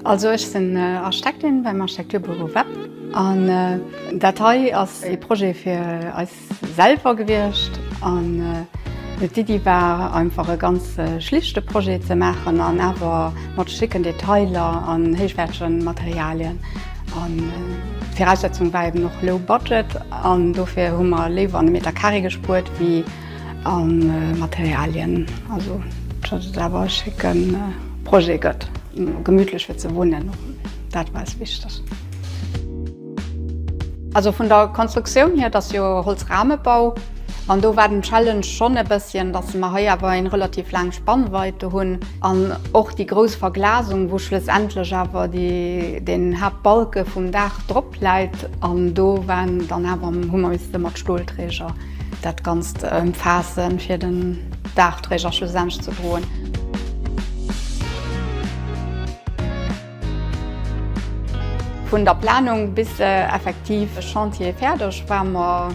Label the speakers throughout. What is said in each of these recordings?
Speaker 1: Also ech sinn Architektin beim Architekturbüro WEPP an dat hei ass e Projet fir eis Selwer gewiescht an d'Iddi war einfach e ganz schlichte Projet ze maachen an awer mat schicken Detailer an héichwäertege Materialien. An d'Viraussetzung war eben och low budget an dofir hu mer léiwer an de Meter Carré gespuert wéi a Materialien. Also datt et awer e schécke Projet gëtt, gemütlech fir ze wunnen, dat war eis wichteg. Also vun der Konstruktioun hier, et ass jo e Holzrahmebau, an do war den Challenge schonn e bësschen, dass mer hei awer eng relativ laang Spannweite hunn an och déi grouss Verglasung, wou schlussendlech awer den Haaptbalke vum Daach drop läit. An do waren dann awer, hu mer misste mat Stolträger dat Ganzt ëmfaassen, fir den Daachträger schlussendlech ze droen. Vun der Planung bis effektiv e Chantier fäerdeg war mer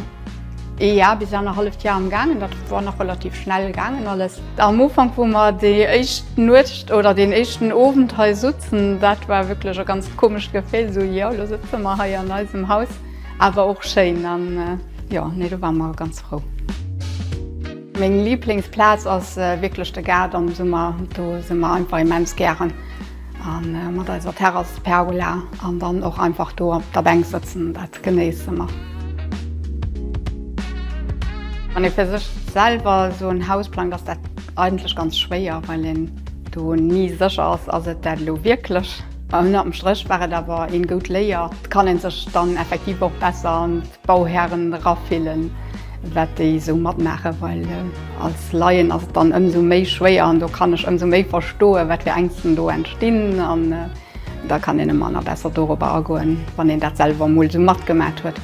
Speaker 1: ee Jar bis annerhalleft Jar am gaangen. Dat war nach relativ schnell gaangen alles. Am Ufank wou mer déi éischt Nuecht oder deen éischten Owend hei sutzen, dat war wierklech e ganz komescht Gefill, esou jo elo sëtze mer hei an eisem Haus, awer och schéin an jo nee do war mer ganz frou. Meng Liblingsplaz ass wierklech de Gaart am Summer, do si mer einfach immens gären. An mat eiser Terrasspergola an dann och einfach do op der Bänk sëtzen, dat genéisse mer. Wann ee fir sech selwer esou en Haus plangt, ass dat eigentlech ganz schwéier, well een do ni sécher ass, ass et dat elo wierklech? Ënnert dem Stréch war et awer een goud Léier, kann een sech dann effektiv och besser. Bauhären erafillen, wat déi esou matmaachen, well als Laien ass et dann ëmsou méi schwéier an do kann ech ëmsou méi verstoen, wat fir Ängsten do entstinn an da kann een ëmmer nach besser dorobber agoen, wann een dat selwer emol esou matgemaat huet.